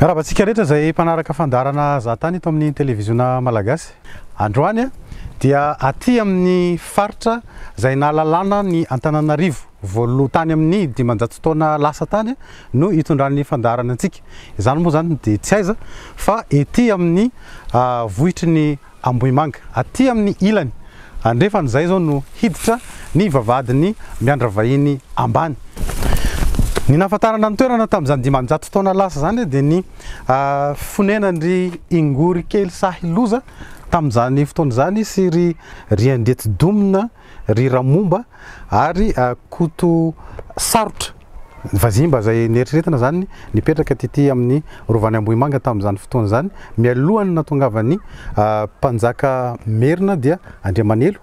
Miarahaba antsika rehetra izay mpanaraka fandaharana Zahatany eto amin'ny televiziona Malagasy. Androany dia aty amin'ny faritra izay nahalalana ny Antananarivo voaloha tany amin'ny dimanjato taona lasa tany no itondran'ny fandaharana antsika. Izany moa izany dia tsy aiza fa ety amin'ny vohitry ny Ambohimanga, aty amin'ny ilany andrefana izay izao no hiditra ny vavahadin'i Miandravahiny ambany. Ny nahafantarana ny toerana tamin'izany dimanjato taona lasa izany dia ny fonenan'ry Ingory kely sahy loza tamin'izany fotoana izany sy ry Riandiatidomina, ry Ramomba ary Koto sarotra, vazimba izay neritreretina izany nipetraka tety amin'ny Rovan'i Ambohimanga tamin'izany fotoana izany, mialohan'ny nahatongavan'ny mpanjaka merina dia Andriamanelo,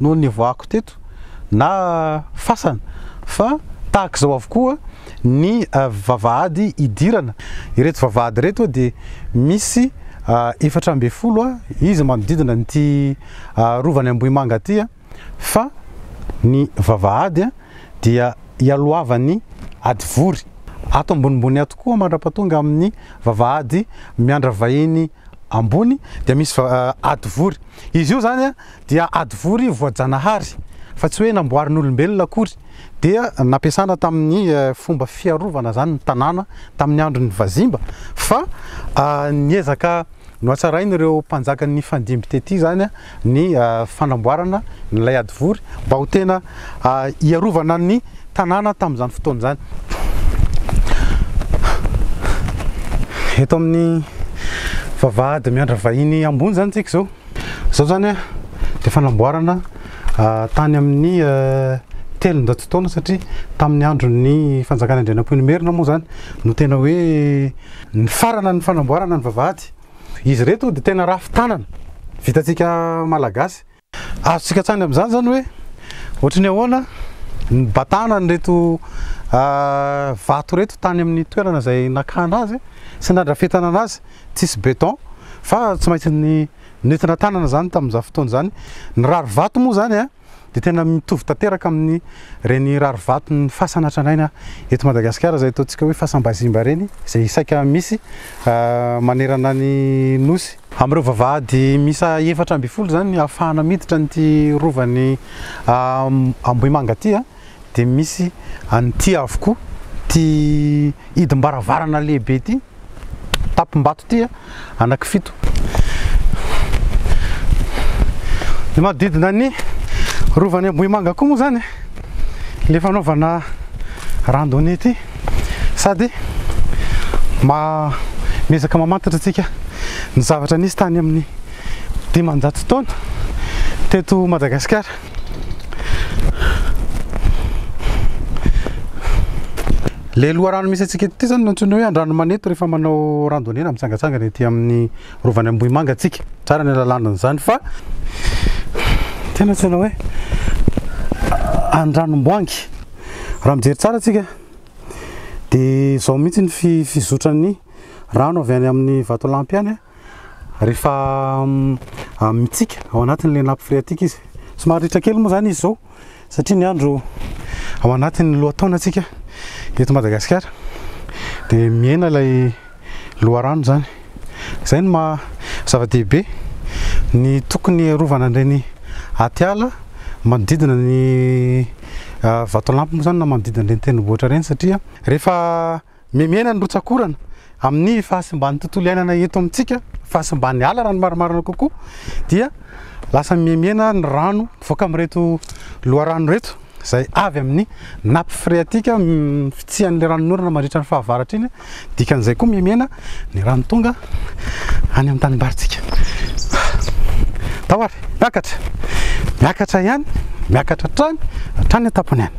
no nivoahako teto na fasana fa tahaka izao avokoa ny vavahady idirana ireto vavahady ireto dia misy efatra ambin'ny folo izy manodidina an'ity rovany Ambohimanga ity fa ny vavahady dia ialohavan'ny hadivory ato ambonimbony ato koa mandrapatonga amin'ny vavahady miandravahiny ambony dia misy hadivory. Izy io izany dia hadivory voajanahary fa tsy hoe namboarin'olombelona akory. Dia nampiasana tamin'ny fomba fiarovana izany ny tanàna tamin'ny andron'ny vazimba fa niezaka nohatsarain'ireo mpanjaka nifandimby tety izany. ny fanamboarana ilay hadivory mba ho tena hiarovana ny tanàna tamin'izany fotoana izany. Eto amin'ny vavahady miandra vahiny ambony izany tsika izao. Izao izany dia fanamboarana tany amin'ny telonjato taona satria tamin'ny andron'ny fanjakana Andrianampoinimerina moa izany no tena hoe nifarana ny fanamboarana ny vavahady. Izy ireto dia tena rafy tanana vitantsika malagasy. Azontsika an-tsaina amin'izany izany hoe ohatry ny ahoana ny batana an'ireto vato ireto tany amin'ny toerana izay nakana azy sy nandrafetana anazy. Tsisy beton fa tsy maintsy nentina tanana izany tamin'izany fotoana izany. Ny rarivato moa izany a! dia tena mitovy tanteraka amin'ny reny rarivaton'ny fasana tranaina eto Madagasikara izay ataontsika hoe fasam-bazimba ireny izay saika misy manerana ny nosy. Amin'ireo vavahady miisa efatra ambin'ny folo izany ahafahana miditra an'ity rovan'ny Ambohimanga ity. dia misy an'ity avokoa, ity hidim-baravarana lehibe ity, tampim-bato ity a, anankifito. Ny manodidina ny rovan'i Ambohimanga koa moa izany e, ilay fanaovana randonnée ity, sady miezaka mamantatra antsika ny zavatra nisy tany amin'ny dimanjato taona teto Madagasikara. Le loharano misy antsika ity zany no antsoina hoe Andranomanety rehefa manao randonnée na mitsangatsangana ety amin'ny rovany Ambohimanga antsika. Tsara ny alalana an'izany fa tena antsoina hoe Andranomboangy. Raha mijery tsara antsika dia izao mihitsy ny fizotran'ny rano avy any amin'ny vatolampy any. rehefa mitsika ao anatin'ilay nappe phréatique izy. Somary ritra kely moa izany izy izao satria ny andro ao anatin'ny lohataonantsika eto Madagasikara dia mihena ilay loharano izany. Izay no maha zava-dehibe ny tokony hiarovana an'ireny atiala manodidina ny Vatolampy moa izany na manodidina an'ireny tendrombohitra ireny satria rehefa Memena ny rotsakorana amin'ny fahasimban'ny tontolo iainana eto amintsika, fahasimban'ny ala raha ny marimarina kokoa, dia lasa mihemena ny rano mivoaka amin'ireto loharano ireto izay avy amin'ny nappe phréatique fitsihan'ilay ranon'orana mandritra ny fahavaratra iny, dikan'izay koa mihemena ny rano tonga any amin'ny tanimbarintsika. Tao ary, miakatra, miakatra ihany, miakatra hatrany, hatrany an-tampony any.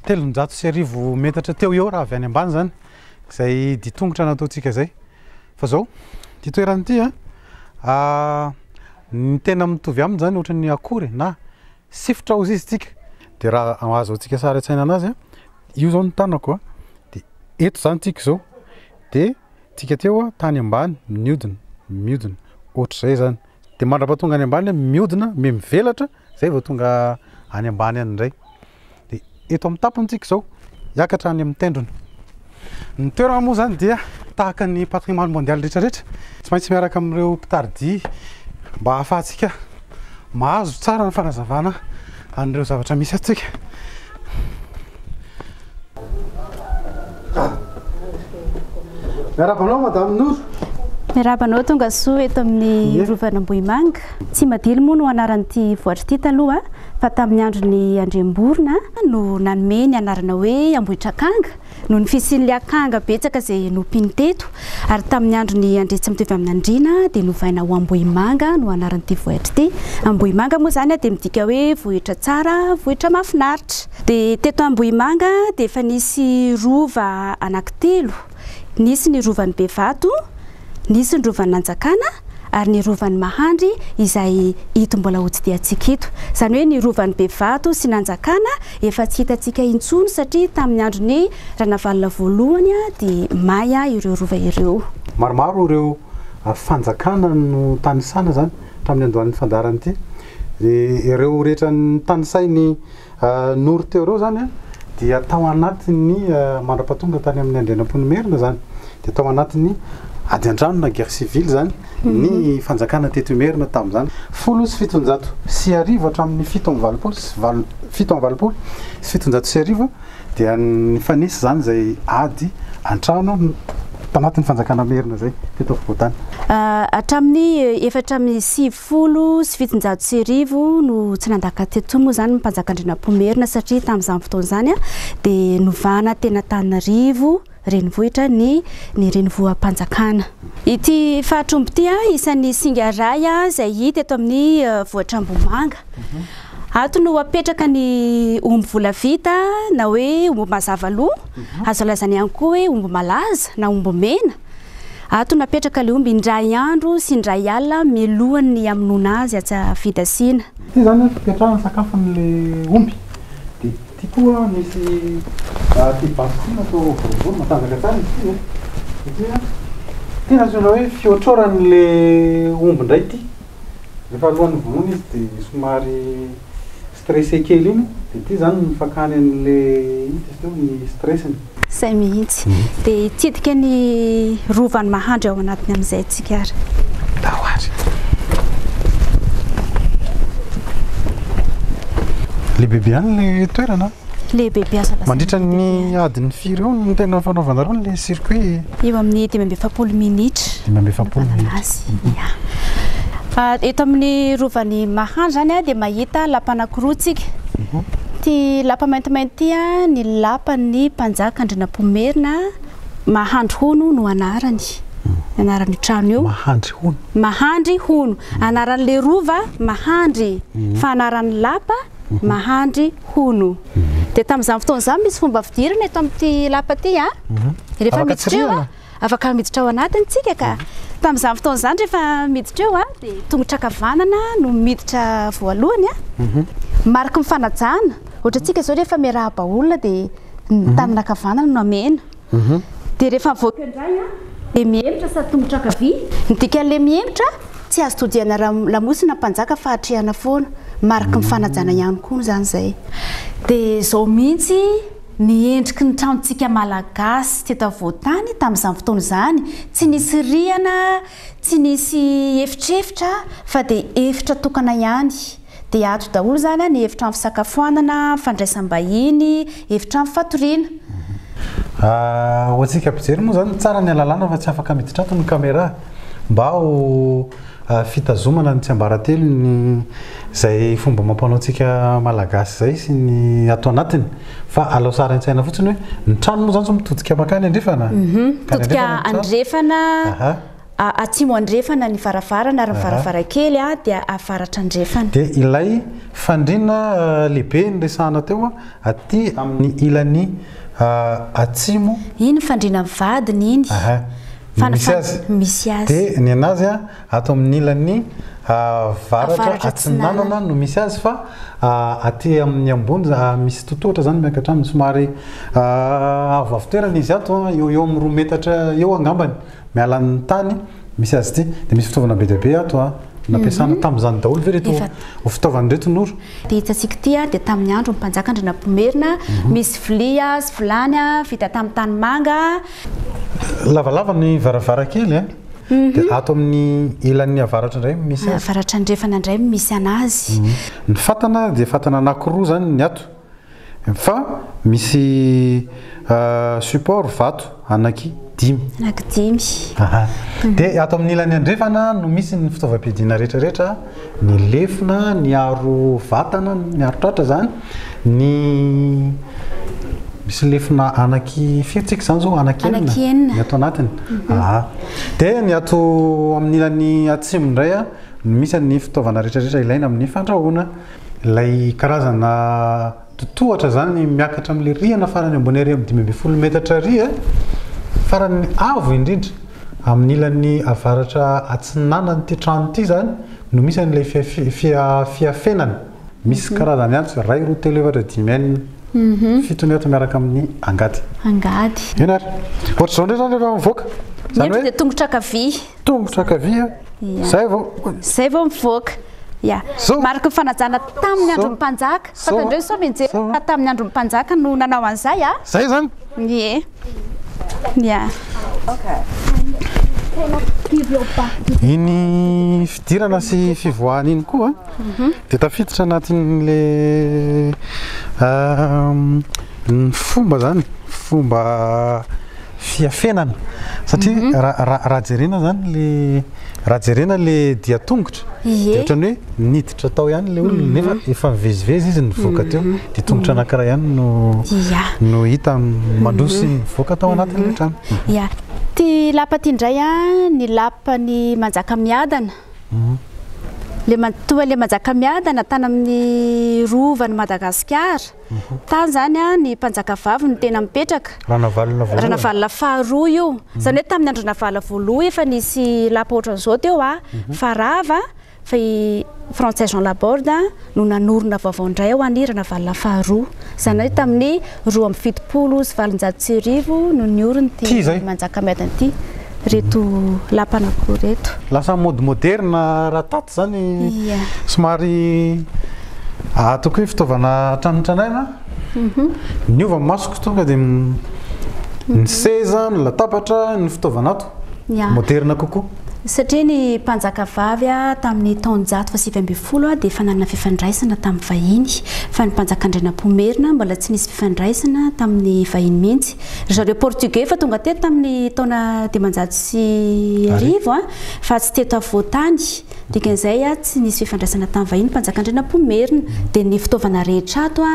telonjato sy arivo metatra teo eo raha avy any ambany zany izay ditongotra nataontsika izay fa zao ty toerana ty a ah, ny tena mitovy aminy zany ohatran'ny akory e, na sifotra ozy izy tsika de raha azo antsika sary an-tsaina anazy a io zao ny tanako a de eto zany tsika izao de tsika teo a tany ambany miodina miodina ohatr'izay zany Dia mandrapa tonga any ambany miodina me mivelatra zay vao tonga any ambany any indray. Dia eto amin'ny tapony tsika izao hiakatra any amin'ny tendrony. Ny toerana moa zany dia tahaka ny patrimoine mondial rehetra rehetra tsy maintsy miaraka amin'ireo mpitaridi mba hahafahantsika mahazo tsara ny fanazavana an'ireo zavatra misy atsika. Miarahaba anao Madame Noro. Miarahaba anao tonga soa eto amin'ny Rovan'Ambohimanga. Tsimadilo moa no anaran'ity vohitra ity taloha fa tamin'ny andron'ny Andriamborona no nanome ny anarana hoe Ambohitrakanga noho ny fisian'ilay akanga betsaka izay nompiany teto ary tamin'ny andron'ny Andriantsimitovy-Aminandriana dia novaina ho Ambohimanga no anaran'ity vohitra ity. Ambohimanga moa izany dia midika hoe vohitra tsara, vohitra mahafinaritra. Dia teto Ambohimanga dia efa nisy rova anankitelo, nisy ny rovan'i Bevato, nisy ny rovan'i Nanjakana ary ny rovan'i Mahandry izay ito mbola hotsidihantsika ito. Izany hoe ny rovan'i Bevato sy Nanjakana efa tsy hitantsika intsony satria tamin'ny andron'i Ranavalona voalohany dia may ireo rova ireo. Maromaro ireo fanjakana notanisana izany tamin'ny andohalin'ny fandaharan'ity. Ireo rehetra notanisain'i Noro teo ireo izany dia tao anatin'ny mandrapa tonga tany amin'ny Andrianampoinimerina izany dia tao anatin'ny ady an-trano na guerre civile izany ny fanjakana teto Imerina tamin'izany. Folo sy fitonjato sy arivo hatramin'ny fito amby valopolo sy valo fito amby valopolo sy fitonjato sy arivo dia nifanesy izany izay ady an-trano tao anatin'ny fanjakana Merina izay teto afovoan-tany. Hatramin'ny efatra amby sivifolo Folo sy fitonjato sy arivo no tsy nandaka teto moa izany ny mpanjaka Andrianampoinimerina satria tamin'izany fotoana izany dia novahana teny Antananarivo renivohitra ny ny renivoham-panjakana. Ity faritr' omby ity isan'ny singa iray izay hita eto amin'ny vohitr'Ambohimanga. Ato no apetraka ny omby volavita na hoe omby mazava loha, azo lazaina ihany koa hoe omby malaza na omby mena. Ato napetraka le omby indray andro sy indray alina mialohan' ny hamonoana azy atsy fidasiana. Ity izany ny fipetrahan'ny sakafon'ilay omby. Dia ity koa misy ity basy ity natao boribory, matanjaka tsara izy ity e. Ity an, ity no antsoina hoe fihotroran'ilay omby indray ity. Rehefa alohan'ny vonoina izy dia somary. Stressé kely iny dia ity izany ny fakany an'le ino t'izy teo? ny stress-ny. Izay mihitsy. Dia hitsidika ny rovan'i Mahandry ao anatiny amin'izay isika ary. Ndao ary. Lehibebe ihany ilay toerana an! Lehibe mpiasa lasa Mandritra ny lehibe ihany. adiny firy eo no tena fanaovanareo ilay circuit? Eo amin'ny dimy amby efapolo minitra. Dimy amby efapolo Manana minitra. azy. Ya. Ah, eto amin'ny rovan'i Mahanja izany ah, dia mahita lapa anankiroa tsika. Ity lapa maintimainty ity ah, ny lapan'ny mpanjaka Andrianampoinimerina Mahandry Hono no anarany. Ny anaran'io trano io. Mahandry hono. Mahandry Hono. Anaran'ilay rova Mahandry. Fa anaran'ny lapa Mahandry hono. Dia tamin'izany fotoana izany misy fomba fidirana eto amin'ity lapa ity a. Mhm. Rehefa miditra eo a, afaka miditra ao anatiny tsika ka. Mhm. Tamin'izany fotoana izany rehefa miditra eo a, dia tongotra ankavanana no miditra voalohany a. Mhm. Mariky ny fanajana. Ohatra antsika izao rehefa miarahaba olona dia ny tanana ankavanana no amena. mhm. dia rehefa mivoaka indray an dia mihemotra sady tongotra ankavia ny dikan'ilay mihemotra tsy azo todihana raha lamosina mpanjaka fa atrehana foana mariky ny fanajana ihany koa izany izay dia izao mihitsy ny endriky ny tranontsika malagasy teto afovoan-tany tamin'izany fotoana izany tsy nisy rihana Tsy nisy efitrefitra fa dia efitra tokana ihany. Dia ato daholo izany an, ny efitrano fisakafoanana, fandraisam-bahiny, efitrano fatoriana. Ho antsika mpijery moa izany, tsara ny alalàna fa tsy afaka miditra ato ny camera mba ho fitazomana ny tsiambaratelon'ny izay fomba amam-panao antsika Malagasy izay sy ny ato anatiny. Fa alao sary an-tsaina fotsiny hoe ny trano moa izany tsy mitodika mankany andrefana? Mitodika andrefana, atsimo andrefana ny varavarana ary ny varavarankely dia avaratra andrefana. Dia ilay fandriana lehibe niresahana teo aty amin'ny ilany atsimo. Iny fandriana ny vadiny iny. Misy azy. Dia ny an'azy. Ato amin'ny ilany avaratra atsinanana no misy azy fa aty amin'ny ambony misy totohatra izany miankatra aminy somary avoavo toerana izy ato eo eo amin'ny roa metatra eo angambany miala amin'ny tany misy azy ity dia misy fitaovana be dia be ato nampiasana tamin'izany daholo ve ireto fitaovana ireto Noro? Ity hitantsika ity dia tamin'ny andron'ny mpanjaka Andrianampoinimerina misy vilia sy vilany vita tamin'ny tanimanga. Lavalava ny varavarankely e! Dia ato amin'ny ilan'ny avaratra indray no misy azy. Avaratra andrefana indray no misy anazy. Ny fatana dia fatana anankiroa izany ny ato. Fa misy support vato anaky dimy. Anaky dimy. Dia ato amin'ny ilany andrefana no misy ny fitaovam-piadiana rehetra rehetra. ny lefona, ny aro vatana, ny aro tratra zany, ny misy lefona anaky firy tsika zany zao anaky enina ny ato anatiny. Mhm. Ah. De ny ato amin'ny ilany atsimo indray a, misy ny fitaovana rehetra rehetra ilaina amin'ny fandrahoana, ilay karazana Totohatra izany miakatra amin'ilay rihana farany ambony ary amin'ny dimy ambin'ny folo metatra ary farany avo indrindra amin'ny ilany avaratra atsinanan'ity trano ity izany no misy an'ilay fiafenana. Misy karazany antsy, iray, roa, telo, efatra, dimy, enina, fito ny ato miaraka amin'ny angady. Angady. Eny ary. Ohatr'izao indray izany rehefa mivoaka. Ny eto dia tongotra ankavia. Tomotra ankavia, izay vao. Izay vao mivoaka. Ya. Mariky ny fanajana tamin'ny andron'ny mpanjaka. Fantatrareo sao mianjera fa tamin'ny andron'ny mpanjaka no nanao an'izay a. Izay izany. Ie. Ya. Iny fidirana sy fivoahana iny koa mhm. dia tafiditra anatin'le ehm, ny fomba zany, fomba fiafenana satria raha jerena zany le raha jerena le dia tongotra dia ohatrany hoe niditra tao ihany le olona nefa efa mivezivezy izy nivoaka teo dia tongotra anankiray ihany no no hita mandroso ny mivoaka tao anatin'ilay trano ya ty lapa ty indray a ny lapa ny manjaka miadana mhm. le toa le manjaka miadana tany amin'ny rovan'i Madagasikara Tany zany an ny mpanjaka vavy no tena mipetraka. Ranavalona voalohany. Ranavalona faharoa io. Zany hoe tamin'ny andron'ny Ranavalona voaloha efa nisy lapa ohatran'izao teo a. Fa rava fa i Frantsay Jean Laborde no nanorina vaovao indray ho an'i Ranavalona faharoa. Zany hoe tamin'ny roa amby fitopolo sy valonjato sy arivo no niorin' ity manjakamiadana ity. reto lapan'akoho reto. Lasa en mode moderne raha tato zany somary ato koa fitaovana hatramin'ny tranainy an! Niova ny masoko tonga dia ny seza, ny latabatra, ny fitaovana ato moderne kokoa. Satria ny mpanjakavavy tamin'ny taonjato fahasivy ambin'ny folo dia efa nanana fifandraisana tamin'ny vahiny fa ny mpanjaka Andrianampoinimerina mbola tsy nisy fifandraisana tamin'ny vahiny mihitsy Ry zareo Portugais efa tonga teto tamin'ny taona dimanjato sy arivo fa tsy teto afovoan-tany. Dikan'izay tsy nisy fifandraisana tamin'ny vahiny. Mpanjaka Andrianampoinimerina. Dia ny fitaovana rehetra ato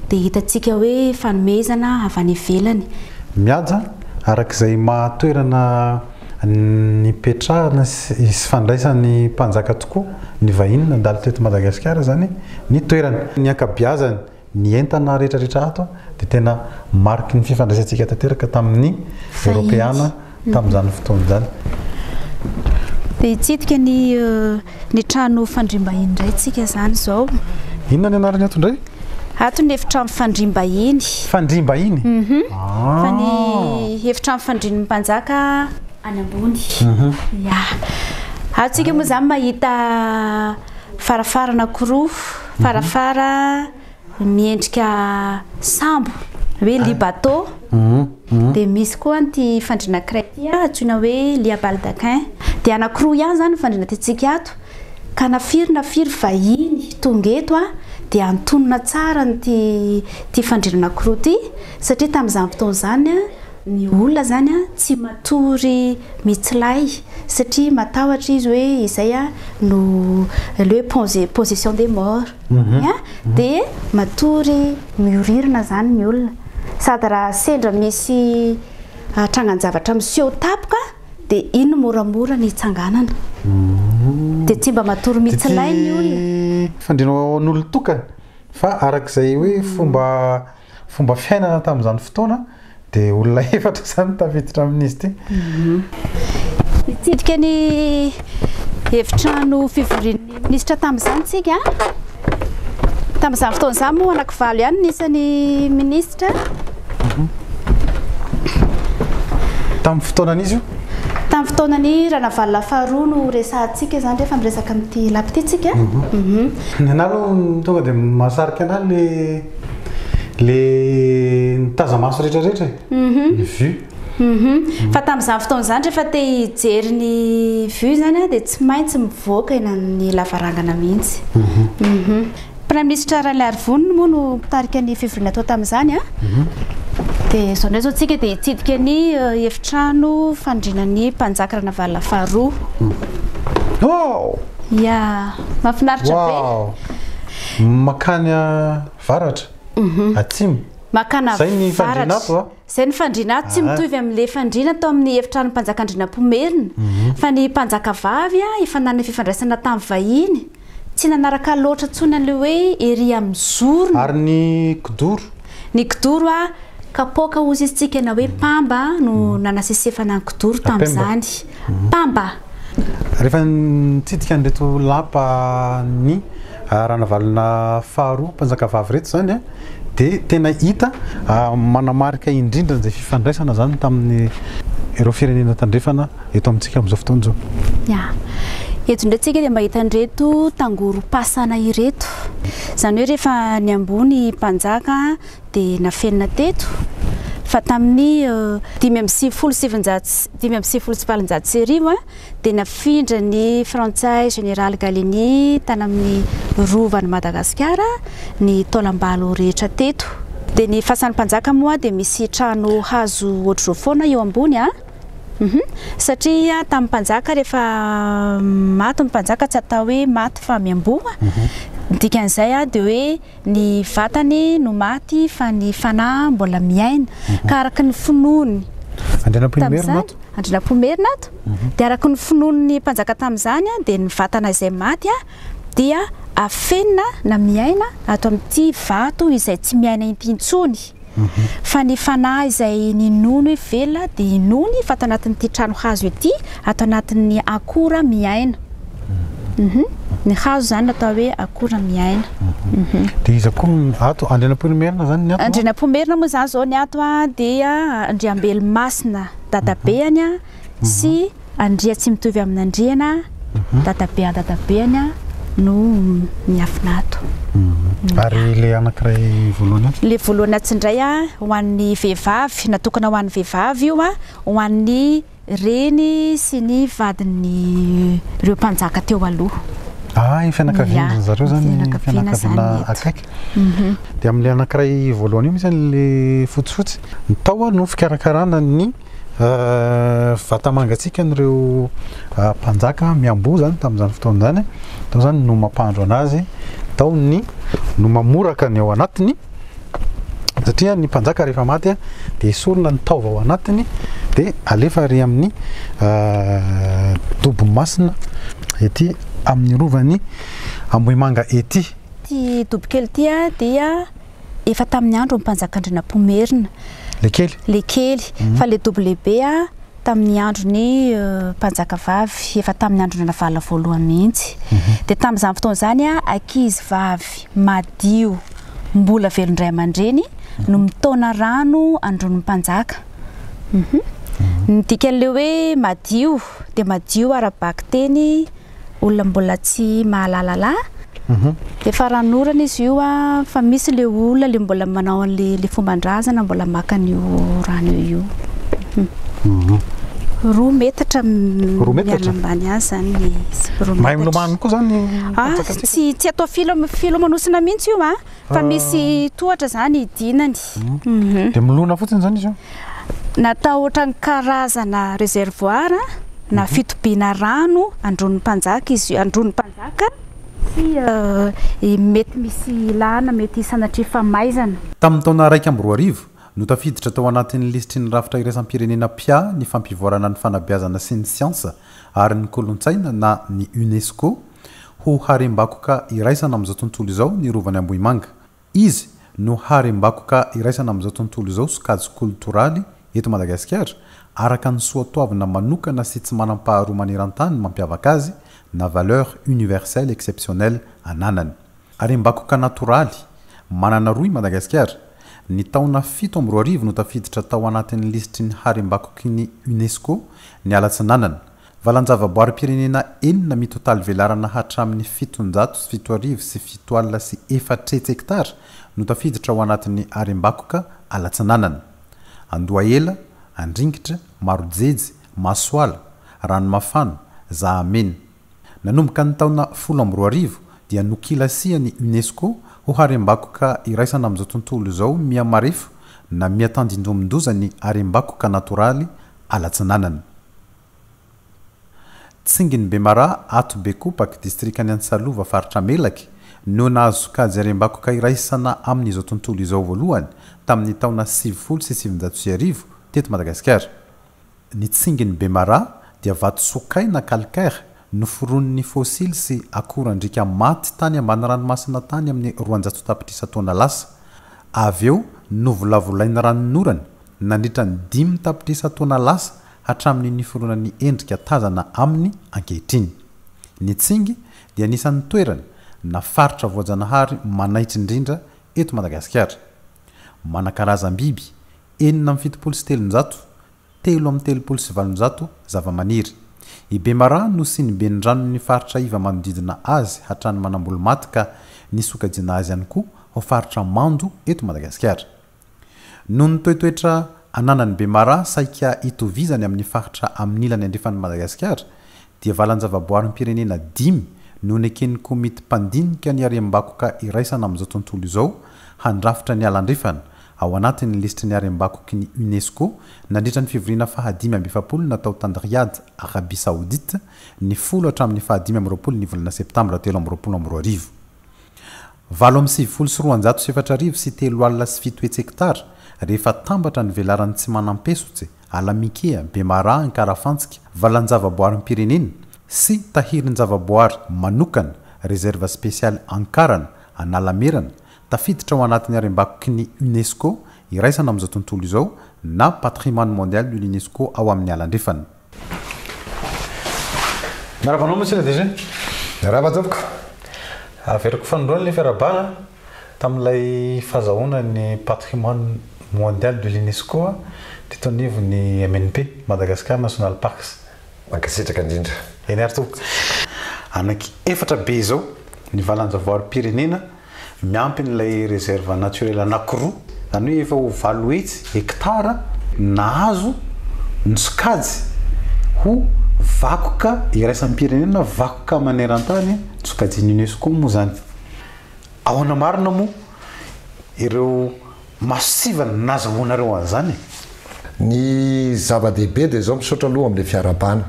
dia hitantsika hoe fanomezana avy any ivelany. Mihaja, araka izay maha toerana nipetrahana sy fandraisan'ny mpanjaka tokoa ny vahiny nandalo teto Madagasikara izany ny toerana. Ny ankabeazany Ny entana rehetrarehetra ato dia tena mariky ny fifandraisantsika tanteraka tamin'ny Eoropeana tamin'izany fotoana izany. Dia hitsidika ny ny trano fandriam-bahiny indray isika izany izao. Inona ny anarany ato indray? Ato ny efitrano fandriam-bahiny. Fandriam-bahiny? Mhm. Ah. Fa ny efitrano fandrin'ny mpanjaka any ambony. Mhm. Ya. Ato isika moa izany mahita varavarana anankiroa. Farafara miendrika sambo hoe lit bateau, dia misy koa ity fandriana iray ity antsoina hoe lia baldaquin, dia anankiroa ihany izany ny fandriana tiantsika ato ka na firy na firy vahiny tonga eto dia antonona tsara amin'ity fandriana anankiroa ity satria tamin'izany fotoana izany Ny olona izany tsy matory mitsilay satria matahotra izy hoe izay no hoe position des morts dia matory mioririna izany ny olona sady raha sendra misy trangan-javatra miseho tampoka dia iny moramora ny hitsanganana dia tsy mba matory mitsilay ny olona. Fandrinao ho an'olon-tokana fa araka izay hoe fomba Fomba fiainana tamin'izany fotoana dia olona efatra izany no tafiditra amin'izy ity. Nitsidika ny efitrano fivorian'ny minisitra tamin'izany isika. Tamin'izany fotoana izany moa anakivalo ihany ny isan'ny minisitra. Tamin'ny fotoanan'izy io? Tamin'ny fotoanan'i Ranavalona faharoa no resahantsika izany rehefa miresaka amin'ity lapa ity isika. Ny anà aloha tonga dia mahasarika anà ilay le nitazamaso rehetra rehetra e mhm. ny vue mhm. fa tamin'izany fotoana izany rehefa te hijery ny vue izany a dia tsy maintsy mivoaka eny amin'ny lavarangana mihitsy mhm. praiminisitra raliarivoniny moa no mpitarika ny fivoriana atao tamin'izany a dia izao ndray izao tsika dia hitsidika ny eh, efitrano fandrina ny mpanjaka ranavalona faharoa oh! ya mahafinaritra be Makany avaratra, atsimo. Makana Zay ny fandriana ato a. Zay ny fandriana ato tsy mitovy amin le fandriana tao amin ny efitranon mpanjakandrinampomerina fa ny mpanjakavavy a efa nanana fifandraisana tamin vahiny tsy nanaraka loatra tsony an le hoe ery amin ny zorony. Ary ny kidoro? Ny kidoro a kapoaka ozy izy tsika na hoe pamba no nanasesefana ny kidoro tamin zany. mpamba. Rehefa nitsidika an'ireto lapa ny Ranavalona faharoa mpanjakavavy ireto izany dia tena hita manamarika indrindra an'izay fifandraisana izany tamin'ireo firenena tandrefana eto amintsika amin'izao fotoana izao. Ya. Eto indray tsika dia mba hita an'ireto tangorom-pasana ireto. Izany hoe rehefa ny ambony mpanjaka. dia nafenina teto fa tamin'ny dimy amby sivifolo sy sivinjato dimy amby sivifolo sy valonjato sy arivo dia nafindra ny frantsay Général Gallieni tany amin'ny rovan'i Madagasikara ny taolam-balo rehetra teto. Dia ny fasan'ny mpanjaka moa dia misy trano hazo ohatr'izao foana eo ambony a. Mhm. Satria tamin'ny mpanjaka rehefa maty ny mpanjaka tsy atao hoe maty fa miamboho. Mhm. Ny dikan'izay dia hoe Ny vatany no maty fa ny fanahy mbola miaina ka araka ny finoany. Andrianampoinimerina ato. Andrianampoinimerina ato. Mhm. Dia araka ny finoan'ny mpanjaka tamin'izany dia ny vatana izay maty dia afenina na miaina ato amin'ity vato izay tsy miaina inty intsony. Fa ny fanahy izay ninono ivelona dia inoany fa ato anatin'ity trano hazo ity, ato anatin'ny akora miaina. Ny hazo izany no atao hoe akora miaina. Dia iza koa ny ato? Andrianampoinimerina izany ny ato? Andrianampoinimerina moa izany izao ny ato dia Andriambelimasina dadabeany sy Andriatsimitovy amin'Andriana dadabe an-dadabeany an no miafina ato. Ary ilay anankiray voalohany atsy? Ilay voalohany atsy indray an, ho an'ny vehivavy, natokana ho an'ny vehivavy io an, ho an'ny reny sy ny vadin'ireo mpanjaka teo aloha. Ah, ny fianakavian-dry zareo izany, ny fianakaviana akaiky. Dia amin'ilay anankiray voalohany io mihitsy ilay fotsifotsy, ny tao no fikarakarana ny. Vata mangatsiaka an'ireo mpanjaka miamboho izany tamin'izany fotoana izany. Tao izany no mampandro anazy, tao ny no mamoraka ny ao anatiny, satria ny mpanjaka rehefa maty dia esorina ny taova ao anatiny dia alefa ary amin'ny dobo masina ety amin'ny rovan'ny Ambohimanga ety. Ity dobokely ity dia efa tamin'ny andron'ny mpanjakan-dRnampomerina, Lekely. Lekely, fa ilay dobo lehibe tamin'ny andron'ny mpanjakavavy, efa tamin'ny andron'i Ranavalona voalohany mihitsy. Dia tamin'izany fotoana izany, ankizivavy madio mbola velon'ny ray aman-dreny no mitaona rano andron'ny mpanjaka. Ny dikan'ilay hoe madio dia madio ara-bakiteny olona mbola tsy mahalala la dia faranorana izy io a fa misy le olona le mbola manao an'le le fomban-drazana mbola maka an'io rano io mhm. roa metatra mianambany azy zany le izy roa metatra mahay milomano koa zany ah, tsy tsy atao filo filomanosina mihitsy io a ah. Fa misy tohatra zany hidinany. Mhm. Dia milona fotsiny zany izy io? Natao ohatran'ny karazana réservoir na mhm. fitobiana rano andron'ny mpanjaka izy io, andron'ny mpanjaka sy eh, mety misy ilana, mety sanatria famaizana. Tamin'ny taona iraika amby roa arivo, no tafiditra tao anatin'ny lisitry ny rafitra iraisam-pirenena PIA ny fampivoarana ny fanabeazana sy ny siansa ary ny kolontsaina na ny UNESCO, Ho harem-bakoka iraisana amin'izao tontolo izao ny Rovan'i Ambohimanga. Izy no harem-bakoka iraisana amin'izao tontolo izao sokajy kolotoraly eto Madagasikara, araka ny soatoavina manokana sy tsy manam-paharoa maneran-tany mampiavaka azy na valeur universelle exceptionnelle ananany. Harem-bakoka natoraly manana roa i Madagasikara. Ny taona fito amby roa arivo no tafiditra tao anatin'ny lisitry ny harem-bakoky ny UNESCO ny Ala Tsinanana. Valan-javaboarim-pirenena enina mitotaly velarana hatramin'ny fitonjato sy fito arivo sy fito alina sy efatretsy hektara no tafiditra ao anatin'ny harembakoka Alatsinanana. Andohahela, Andringitra, Marojejy, Masoala, Ranomafana, Zahamena. Nanomboka ny taona folo amby roa arivo dia nokilasian'ny UNESCO ho harembakoka iraisana amin'izao tontolo izao mihamarefo na mihatandindomin-doza ny harembakoka natoraly Alatsinanana. Tsinginy Bemara, ato Bekopaky, distrikan'i Antsalova, faritra Melaky, no nahazo sokajy harem-bakoka iraisana amin'izao tontolo izao voalohany, tamin'ny taona sivifolo sy sivinjato sy arivo, teto Madagasikara. Ny tsinginy Bemara dia vato sokaina, calcaire, noforonin'ny fôsily sy akorandriaka maty tany ambany ranomasina tany amin'ny roanjato tapitrisa taona lasa, avy eo novolavolain'ny ranon'orana nandritra ny dimy tapitrisa taona lasa hatramin'ny niforonan'ny endrika tazana aminy ankehitriny. Ny Tsingy dia anisan'ny toerana na faritra voajanahary manaitra indrindra eto Madagasikara. Manan-karazam-biby enina amby fitopolo sy telonjato, telo amby telopolo sy valonjato, zavamaniry. I Bemaraha no sinibenindranon'ny faritra iva manodidina azy hatrany Manambolomaty ka nisokajiana azy ihany koa ho faritra mando eto Madagasikara. Noho ny toetoetra ananan'ny Bemara saika itovizany amin'ny faritra amin'ilany andrefan'i Madagasikara dia valan-javaboarim-pirenena dimy no neken'ny komity mpandinika ny harem-bakoka iraisana amin'izao tontolo izao handrafitra ny ala andrefana ao anatin'ny lisitry ny harem-bakoky ny UNESCO nandritra ny fivoriana fahadimy amby efapolo natao tany Riyad, Arabie Saoudite, ny folo hatramin'ny fahadimy amby roapolo ny volana septambra telo amby roapolo amby roa arivo. Valo amby sivifolo sy roanjato sy efatra arivo sy telo alina sy fito hetsy hektara, rehefa atambatra ny velaran'i Tsimanam-Pesotse, Alamikea, Bemaraha, Ankarafantsika, Valanjavaboarim-pirenena, sy Tahirin-javaboary manokana, Réserve spéciale Ankarana, Analamerana, tafiditra ao anatin'ny harembakoky ny UNESCO iraisana amin'izao tontolo izao na Patrimoine mondial de l'UNESCO ao amin'ny Ala Andrefana. Miarahaba anao Monsieur le DG. Miarahaba tompoko. Averiko fanindroany ny fiarahabana tamin'ilay fazahoana ny patrimoine mondial de l'UNESCO teto anivon'ny MNP, Madagascar National Parks. Mankasitraka indrindra. Eny ary tompoko. Anaky efatra be izao ny valan-javaoarim-pirenena. Miampy an'ilay réserve naturelle anankiroa, izany hoe efa ho valo hetsy, hekitara, nahazo ny sokajy ho vakoka iraisam-pirenena, vakoka maneran-tany, nosokajian'ny UNESCO moa izany. Ahoana marina moa ireo. Maso tsiva ny nazahoanareo an'izany e. Ny zava-dehibe dia izao, misaotra aloha amin'ilay fiarahabana,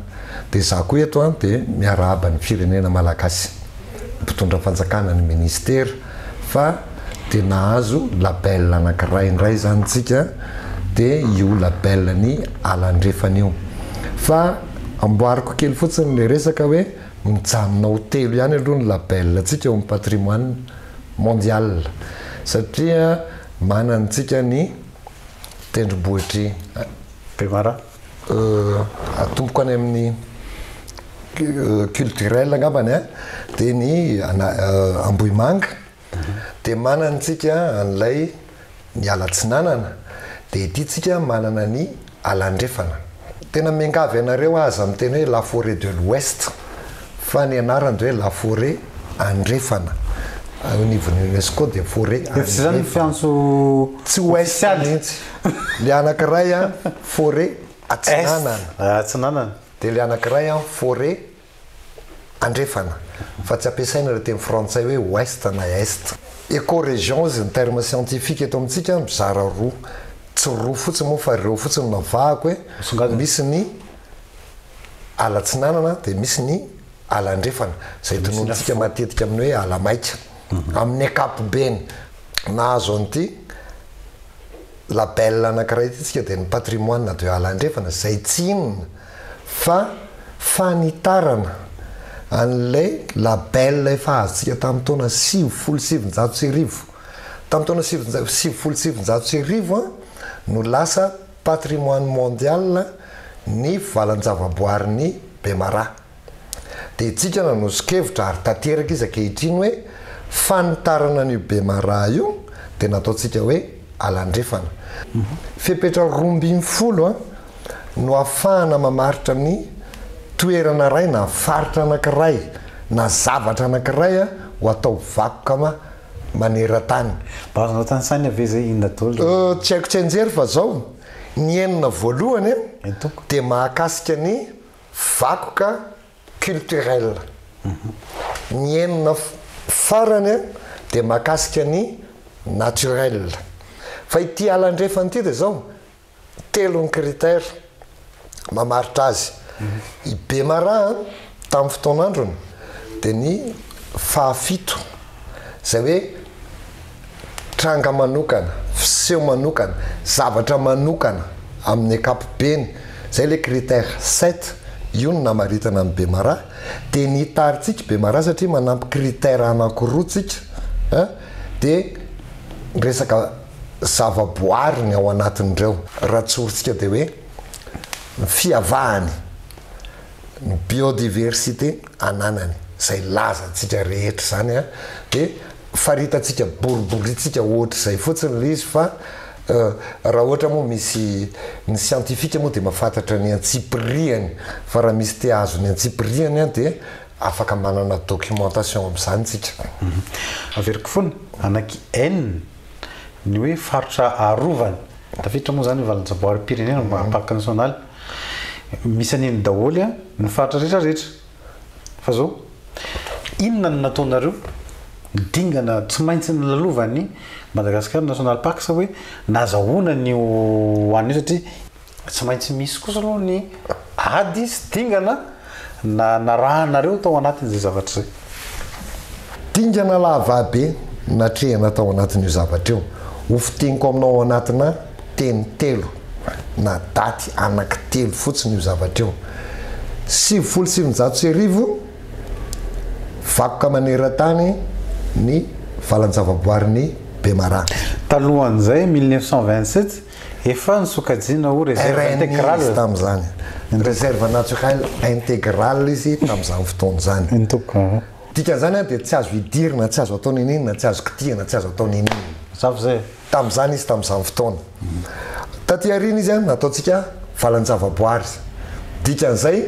dia izaho koa eto an dia miarahaba ny firenena Malagasy, ny mpitondra fanjakana, ny ministera fa dia nahazo label anankiray indray izany isika dia io label ny ala andrefana io. Fa amboariko kely fotsiny ilay resaka hoe mijanona ho telo ihany aloha ny label antsika eo amin'ny patrimoine, mondiale satria manantsika ny tendrombohitr'i Bemaraha. Atomboko any amin'ny culturel angambany an, dia ny Ambohimanga dia manantsika an'ilay ny alatsinanana dia ity tsika manana ny alandrefana. Tena miangavy anareo aza miteny hoe la forêt de l'ouest fa ny anarany dia hoe la forêt andrefana ao anivon'ny UNESCO dia forêt andrefana. Efa tsy izany ny fiantso ofisialy. Ilay anakiray an forêt atsinanana. Atsinanana. Dia ilay anakiray an forêt. Andrefana, fa tsy ampiasaina ilay teny frantsay hoe Ouest na Est. Ecoregions ny terme scientifique eto amintsika mizara roa, tsy roa fotsiny moa fa ireo fotsiny no navahako e, misy ny ala atsinanana dia misy ny ala andrefana izay tononontsika matetika amin'ny hoe ala maika. Amin'ny ankapobeny nahazo an'ity label anankiray ity isika dia ny patrimoine de ala andrefana izay tsy inona fa fanitarana an'ilay label efa azontsika tamin'ny taona sivifolo sy sivinjato sy arivo. Tamin'ny taona sivifolo sy sivinjato sy arivo no lasa patrimoine mondial ny valan-javaboarin'i Bemaraha. Dia isika nanosokevitra ary tanteraka izy ankehitriny hoe fanitarana an'io Bemaraha io dia nataontsika hoe Alandrefana. Fepetra roa ambin'ny folo no ahafahana mamaritra ny toerana iray na faritra anankiray na zavatra anankiray ho atao vakoka maneran-tany. Mba azonao tanisaina ve izay inona daholo izay? Tsy haiko tsianjery fa izao, ny enina voalohany dia mahakasika ny vakoka culturel. Ny enina farany dia mahakasika ny naturel. Fa ity ala andrefana ity dia izao, telo ny critère mamaritra azy. I Bemaraha tamin'ny fotoan'androny dia ny fahafito, izay hoe, tranga manokana, fiseho manokana, zavatra manokana amin'ny ankapobeny, izay ilay critère sept, io no namaritana an'i Bemara, dia ny hitarintsika Bemara satria manampy critère anankiroa tsika a, dia resaka zava-boary ny ao anatin'ireo. Raha tsorintsika dia hoe ny fiavahany, ny biodiversité ananany, izay lazantsika rehetra izany a, dia. faritantsika boriborintsika ohatr'izay fotsiny le izy fa raha ohatra moa misy ny siantifika moa dia mafantatra ny antsipirihany fa raha misy te ahazo ny antsipirihany an dia afaka manana documentation amin'izany tsika averiko foana anaky en ny hoe faritra arovana tafiditra moa zany valanjavaoarim-pirenena parc national misy an'iny daholo an ny faritra rehetra rehetra Fa zao, inona no nataonareo dingana tsy maintsy nolalovan'ny Madagascar National Parks hoe nazahoana ny ho an'io satria, tsy maintsy misy kosa aloha ny ady sy dingana na narahanareo tao anatin'izay zavatra izay. Dingana lahababe natrehina tao anatin'io zavatra io. Ho fiteniko aminao ao anatinà. Teny telo na daty anankitelo fotsiny io zavatra io. Sivifolo sy sivinjato sy arivo, vakoka maneran-tany ny valan-javaboarin'i Bemaraha. Talohan'izay, mille neuf cent vingt-sept, efa nosokajiana ho réserve intégrale. Izy tamin'izany. Réserve naturelle intégrale izy tamin'izany fotoana izany. Ny tokony. Dikan'izany dia tsy azo idirina, tsy azo atao n'inon'inona, tsy azo kitihina, tsy azo atao n'inon'inona. Mazava izay e? tamin'izany izy tamin'izany fotoana. Taty aoriana izy nataontsika valan-javaboary. Dikan'izay,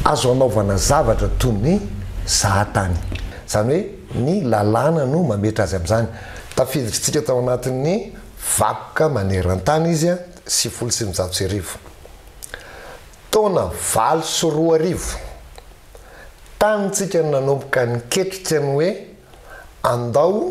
azo anaovana zavatra toy ny zahatany. Izany hoe ny lalàna no mametra azy amin'izany. Tafiditrintsika tao anatin'ny vakoka maneran-tany izy, sivifolo sy eninjato sy arivo. Taona valo sy roa arivo, tanintsika no nanomboka niketrika ny hoe andao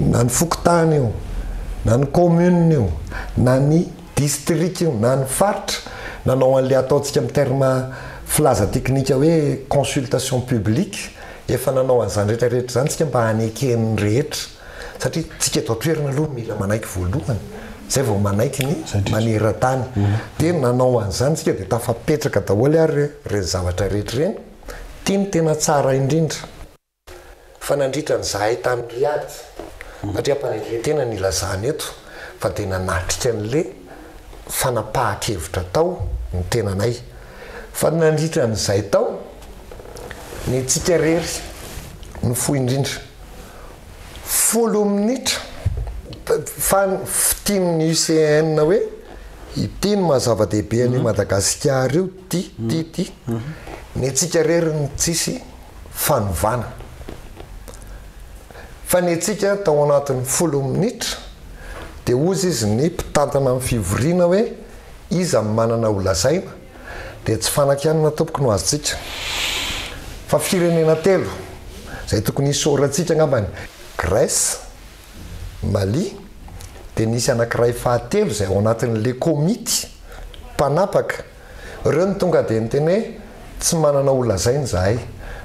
na ny fokontany io, na ny commune io, na ny district io, na ny faritra, nanao an'ilay ataontsika amin'ny terme filaza teknika hoe consultation publique, efa nanao an'izany rehetra rehetra izany isika mba haneken'ny rehetra, satria isika eto an-toerana aloha no mila manaiky voalohany, izay vao manaiky ny maneran-tany, dia nanao an'izany isika dia tafapetraka daholo ary ireny zavatra rehetra ireny, ity no tena tsara indrindra. Fa nandritra ny zahay tany Riyadh, satria ampanetren-tena no ilazana eto, fa dia nanatrika an'ilay fanapahan-kevitra tao ny tenanay. Fa nandritra ny izay tao, ny antsika irery no fohy indrindra. Folo minitra fa tian'ny UCN hoe ity no maha zava-dehibe an'io Madagasikara io, ity, ity, ity. Ny antsika irery no tsisy. fanovana. Fanentsika tao anatin'ny folo minitra dia hozy izy ny mpitantana ny fivoriana hoe iza no manana ho lazaina dia tsy fanakianana tompoko no azontsika fa firenena telo izay tokony hisaorantsika angambany Grèce, Mali dia nisy anankiray fahatelo izay ao anatin'ilay komity mpanapaka. Reo no tonga dia niteny hoe tsy manana ho lazaina zahay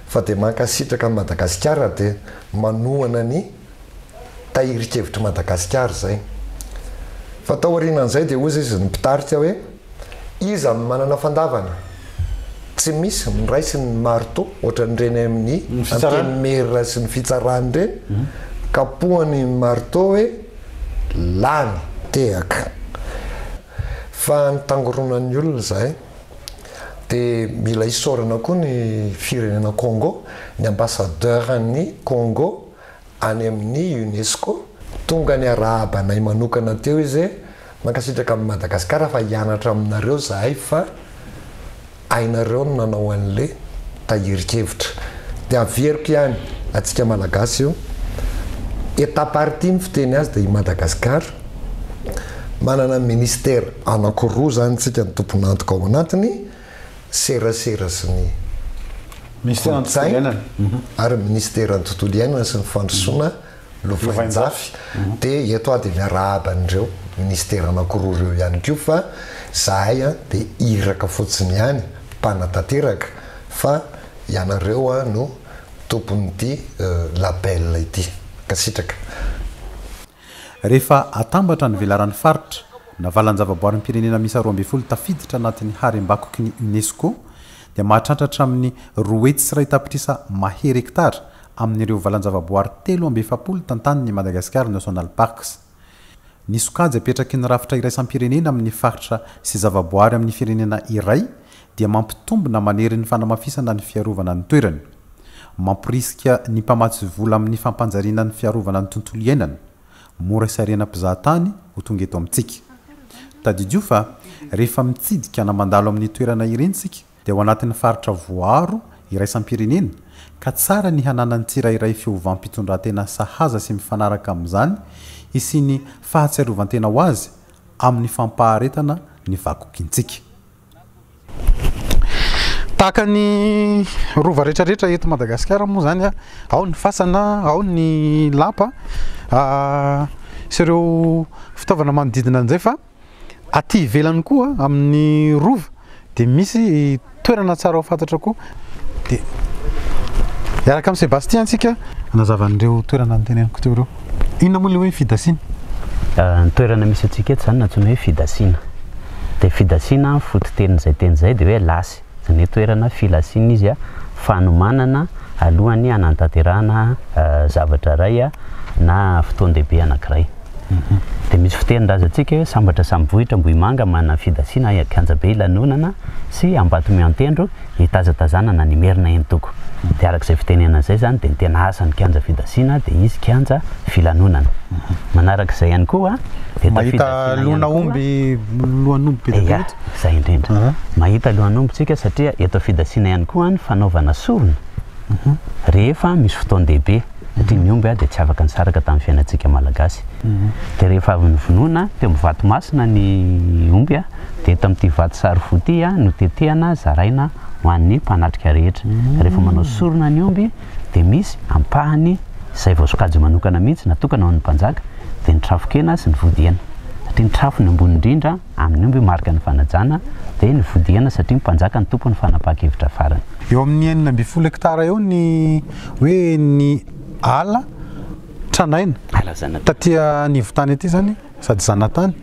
fa dia mankasitraka an'i Madagasikara dia manohana ny tahirin-kevitr'i Madagasikara zay. Fa taorianan'izay dia hozy izy ny mpitarika hoe iza no manana fandavana? Tsy misy ny ray sy ny marto ohatran'ireny amin'ny antenimiera sy ny fitsarana ireny kapohany ny marto hoe lany. Tehaka. Fa ny tangoronan'ny olona izay. Dia mila isaorana koa ny firenena Congo, ny ambasadaoran'ny Congo any amin'ny Unesco. Tonga niarahaba anay manokana teo izy hoe, mankasitraka amin'i Madagasikara fa hianatra aminareo izahay fa. Hainareo ny nanao anle tahirin-kevitra de averiko ihany atsika malagasy io et à partie ny fiteny azy de i Madagascar manana ministère anakiroa zany tsika ny tompon'antoka ao anatiny serasera sy ny kolotsaina ary ministère ny tontolo iainana sy ny fandrosoana lovainjafy de eto aho de miarahaba an'ireo ministera anakiroa ireo ihany koa fa zahay a de iraka fotsiny ihany mpanatanteraka fa ianareo a no tompon'ity label ity mankasitraka. Rehefa atambatra ny velaran'ny faritra na valan-javaboarim-pirenena miisa roa ambin'ny folo tafiditra anatin'ny harem-bakoky ny UNESCO dia mahatrantra hatramin'ny roa hetsy sy iray tapitrisa mahery hektara amin'ireo valan-javaboary telo amby efapolo tantanin'ny Madagascar National Parks. Ny sokajy apetraky ny rafitra iraisam-pirenena amin'ny faritra sy zavaboary amin'ny firenena iray dia mampitombina manery ny fanamafisana ny fiarovana ny toerany. Mamporisika ny mpamatsy vola amin'ny fampanjariana ny fiarovana ny tontolo iainana. Mora sy ariana mpizahatany ho tonga eto amintsika. Tadidio fa rehefa mitsidika na mandalo amin'ny toerana ireny isika, dia ao anatin'ny faritra voaaro iraisam-pirenena ka tsara ny hananan'ny tsirairay fiovam-pitondran-tena sahaza sy mifanaraka amin'izany hisian'ny fahatsiarovan-tena ho azy amin'ny fampaharetana ny vakokintsika. Tahaka ny rova rehetrarehetra eto Madagasikara moa izany, ao ny fasana, ao ny lapa sy ireo fitaovana manodidina an'izay fa. Aty ivelany koa amin'ny Rova dia misy toerana tsara ho fantatra koa. Dia hiaraka amin'i Sébastien antsika hanazava an'ireo toerana noteneniko teo ireo. Inona moa ilay hoe fidasina? Ny toerana misy antsika eto izany no antsoina hoe fidasina. Dia fidasina, ny fototenin'izay teny izay dia hoe lasy. izany hoe toerana filasiana izy fanomanana alohan'ny hanantanterahana zavatra iray na fotoan-dehibe anankiray. Dia misy fitenin-drazantsika hoe sambatra samy vohitra Ambohimanga manana fidasiana any Ankianjabe ilanonana sy Ambatomiantendro hitazatazanana ny Merina Entoko. Dia araka izay fitenenana izay izany dia ny tena asan'ny kianja fidasiana dia hisy kianja filanonana. Manaraka izay ihany koa dia tafiditra ihany koa. Mahita lohan'omby be dia be eto. Zay indrindra. Mahita alohan'ny hombontsika satria eto fidasiana ihany koa ny fanaovana sorona rehefa misy fotoan-dehibe satria ny omby dia tsy afaka nisaraka tamin'ny fiainantsika malagasy. Dia rehefa avy novonoina teo amin'ny vato masina ny omby dia eto amin'ity vato sary fo ity no tetehana zaraina ho an'ny mpanatrika rehetra. Rehefa manao sorona ny omby dia misy ampahany izay voasokajy manokana mihitsy natokana ho an'ny mpanjaka dia ny trafon-kena sy ny vody hena satria ny trafony ambony indrindra Amin'ny omby marika ny fanajana, dia ny fodiana satria ny mpanjaka no tompon'ny fanapahan-kevitra farany. Eo amin'ny enina ambin'ny folo hektara eo ny hoe ny ala tranaina. Ala zanatany. Taty anivon-tany aty izany sady zanatany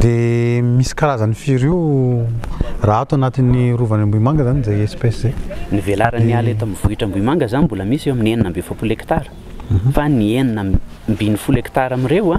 dia misy karazan'ny firy io raha ato anatin'ny Rovan'ny Ambohimanga izany izay espèce izay. Ny velaran'ny ala eto amin'ny vohitra Ambohimanga izany mbola misy eo amin'ny enina amby efapolo hektara fa ny enina ambin'ny folo hektara amin'ireo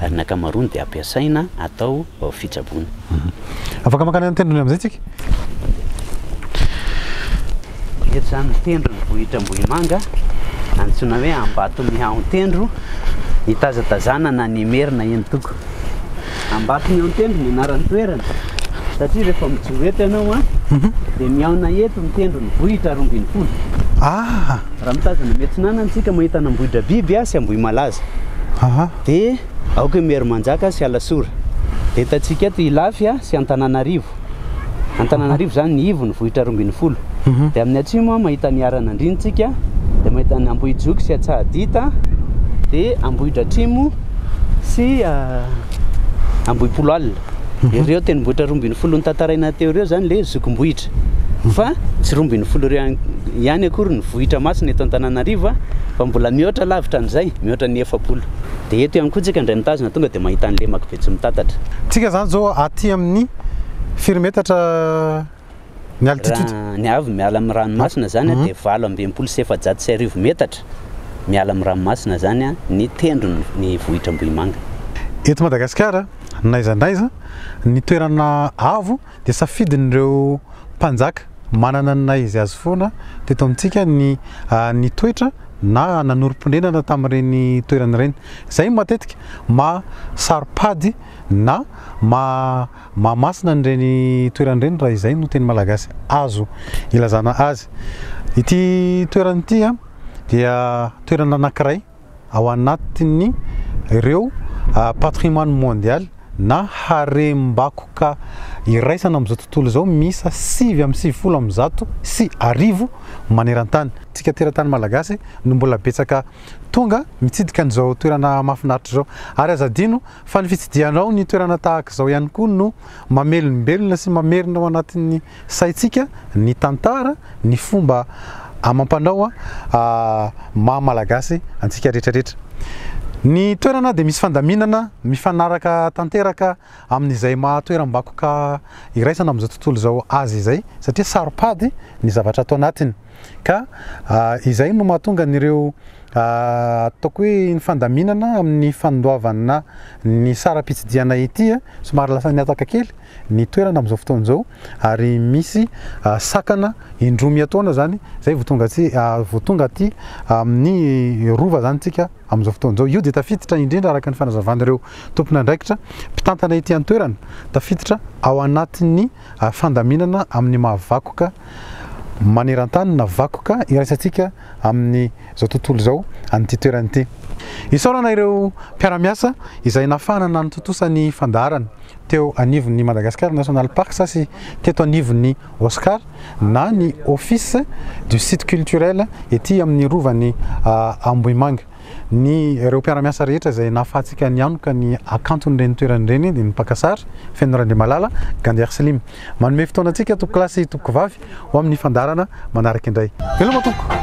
ary ny ankamaroany dia ampiasaina atao fitsaboana. Afaka mankany amin'ny tendrony amin'izay tsika. Eto izany ny tendron'ny vohitra Ambohimanga, antsoina hoe Ambatomihahon-tendro, hitazatazanana ny Merina eny Togo. Ambatomihahon-tendro ny anaran'ny toerana, satria rehefa mijoro eto ianao dia mihaona eto ny tendron'ny vohitra Rombinifolo. Ah! Raha mitazana miatsinana ny tsika mahita an' Ambohidrabiby sy Ambohimalaza dia aoka i Miharimanjaka sy Alasora. Dia hitantsika eto Ilafy sy Antananarivo. Antananarivo izany ny ivony, vohitra roa ambin'ny folo. Dia amin'ny atsimo mahita an' Iharanandria ny tsika, dia mahita an' Ambohijoky sy Antsahadita, dia Ambohidratrimo sy Ambohipolo alina. mhm. ireo tendrombohitra roa ambin'ny folo notantaraina teo ireo zany le zokim-bohitra mhm. fa tsy roa ambin'ny folo ireo ihany akory ny vohitra masina eto an-tananarivo a fa mbola mihoatra lavitra an'izay mihoatra ny efapolo de eto ihany koa tsika indray mitazona tonga de mahita ny lemako be tsy mitatatra tsika zany zao aty amin'ny firy metatra Ny altitude. Raha ny avy miala amin'ny ranomasina izany an, dia valo amby enimpolo sy efajato sy arivo metatra miala amin'ny ranomasina izany an, ny tendrony ny vohitra Ambohimanga. Eto Madagasikara, n'aiza n'aiza, ny toerana avo dia safidin'ireo mpanjaka manana ny naha-izy azy foana teto amintsika ny nitoetra na nanorim-ponenana tamin'ireny toerana ireny. Izay matetika maha saro-pady na maha. Mahamasina an'ireny toerana ireny raha izay no teny malagasy azo ilazana azy. Ity toerana ity dia toerana anankiray ao anatin'ny ireo patrimoine mondial na harem-bakoka iraisana amin'izao tontolo izao miisa sivy amby sivifolo amby zato sy arivo maneran-tany. Isika teratany malagasy no mbola betsaka tonga mitsidika an'izao toerana mahafinaritra izao ary aza adino Fa ny fitsidihanao ny toerana tahaka izao ihany koa no mamelombelona sy mamerina ao anatin'ny saintsika ny tantara, ny fomba amam-panao maha Malagasy antsika rehetra rehetra. Ny toerana dia misy fandaminana mifanaraka tanteraka amin'izay maha toeram-bakoka iraisana amin'izao tontolo izao azy izay satria saro-pady ny zavatra ato anatiny. Ka izay no mahatonga an'ireo ataoko hoe ny fandaminana amin'ny fandoavana ny saram-pitsidihana ity somary lasa nihataka kely ny toerana amin'izao fotoana izao ary misy sakana indroa miatoana izany izay vao tonga tsy vao tonga aty amin'ny rova izany tsika amin'izao fotoana izao io dia tafiditra indrindra araka ny fanazavan'ireo tompon'andraikitra mpitantana ity an-toerana tafiditra ao anatin'ny ary fandaminana amin'ny maha vakoka maneran-tany na vakoka iraisantsika amin'izao tontolo izao an'ity toerana ity. Isaorana ireo mpiara-miasa izay nafahana nanatontosa ny fandaharana teo anivon'ny Madagascar National Parks sy teto anivon'ny OSCAR na ny Office du Site Culturel ety amin'ny Rovan'i Ambohimanga. Ny ireo mpiara-miasa rehetra izay nahafahantsika nihanoka ny hakanton'ireny toerana ireny dia ny mpaka sary, Feno Randriamalala, Gander Slim. Manome fotoana antsika tompoko lahy sy tompoko vavy ho amin'ny fandaharana manaraka indray. Veloma tompoko!